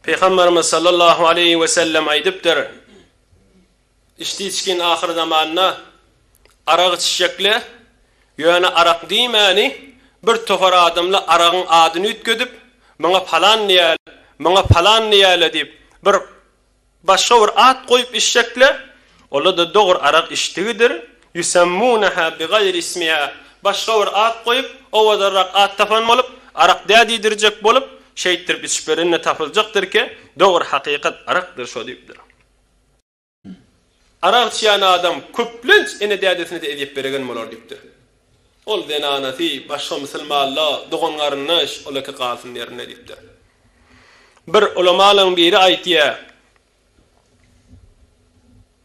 Pygamberimiz sallallahu aleýhi we sellem aýdypdyr, Içdi içgin ahyr zamanda arak içjekle, ýöne arak diýmäni bir topar adamla aragyň adyny üýtgedip, muňa palan diýäle, muňa palan diýäle diýip, bir Başga bir at goýup içjekle, ola-da dogur arak içdigidir, ýusemmuneha bigaýri ismiha, başga bir at goýup, owadanrak at tapan bolup, arak dä diýdirjek bolup, şeýtdirip içip berende tapyljakdyr ki, dogur hakykat arakdyr şo diýipdir. Arak içýän adam köplenç ene-dädesine-de ezýet beregen bolar diýipdir. Ol zenanasy, başga musulmanlar, dogan-garyndaş, olaky galsyn ýerinde diýipdir. Bir ulamalaň biri aýtýar,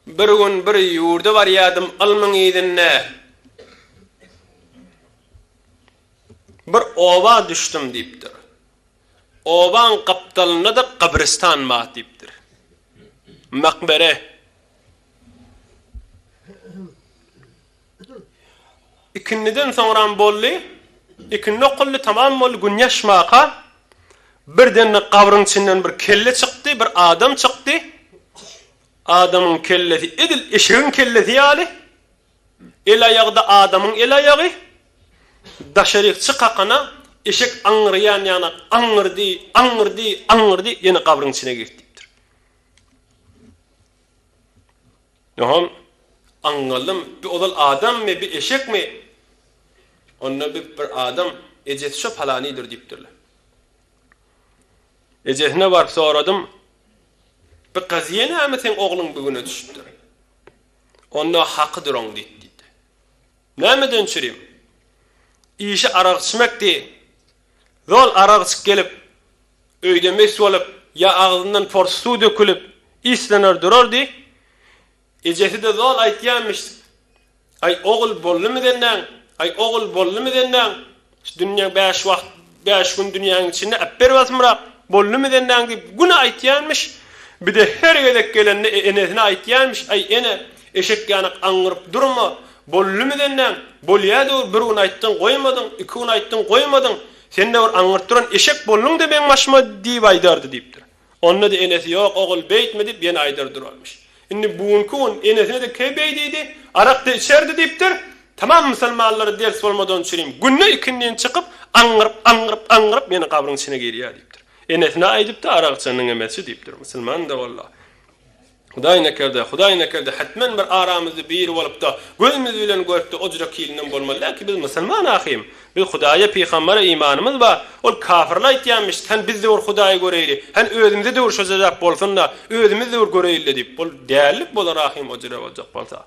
Bir gün bir ýurda barýardym, ylmyň yzynda bir oba düşdüm diýipdir. Obaň gapdalynda-da gabristan bar diýipdir. Makbere. Ikindiden soňram boldy. Ikindi okuldy, tamam boldy, gün ýaşmaka, birden-de gabryň içinden bir kelle çykdy, bir adam çykdy. Adamyň kellesi edil eşegiň kellesi ýaly. El-aýagy-da adamyň el-aýagy, daşaryk çy kakana, eşek aňňyraýan ýaňa aňňyrdy, aňňyrdy, aňňyrdy, ýene gabryň içine girdi diýipdir. Ýoham, aňňaldym, bi ozal adammy, bi eşekmi? Onda bi bir adam, ejesi şo palanydyr diýipdirler. Ejesine baryp soradym, bi gyz ýenemi seň ogluň bigüne düşüpdir. Onda haky duraň diýip diýdi. Nämeden içirim? Işi arak içmekdi. Zol arak içip gelip, öýde mes bolup, ýa agzyndan porsy suw dökülip, islener durardy. Ejesi-de zol aýtýarmyş, Aý, ogul boldumy senden? Aý, ogul boldumy senden? Şu dünýä bäş wagt, bäş gün dünýäň içinde äp ber basymrak, boldumy senden diýip güne aýtýanmyş. Bide her gezek gelende enesine aýtýanmyş, Aý ene, eşek ýanak aňňyryp durma, boldumy senden, bolýa-da ol bir gün aýtdyň goýmadyň, iki gün aýtdyň goýmadyň, sen-de bir aňňyryp duran eşek bolduň-da meň başyma diýip aýdardy diýipdir. Onda-da enesi ýok, ogul beýtme diýip ýene aýdar durarmyş. Indi bu günki gün enesine-de keý beýdidi, arak-da içerdi diýipdir. Tamam musulmanlara ders bolmadan çürim, günde ikindin çykyp, aňňyryp, aňňyryp, aňňyryp ýene gabryň içine girýär diýipdir. Enesine aýdypdy, arak içeniň emesi diýipdir. Musulman-da walla. Hudaý nekerde, Hudaý nekerde, hetmen bir aramyzda biri bolup-da, gözümiz bilen görüp-de o jürek hilinden bolmaly däl ki, biz musulman ahym. Biz Hudaýa, pygambere imanymyz bar. Ol kafirler aýtýanmyş, Sen bizde bir Hudaýy göreýli, hän özümizede bir şo jezap bolsun-da, özümizde bir göreýli-le diýip. Ol dällik bolar ahym o jürek boljak bolsa.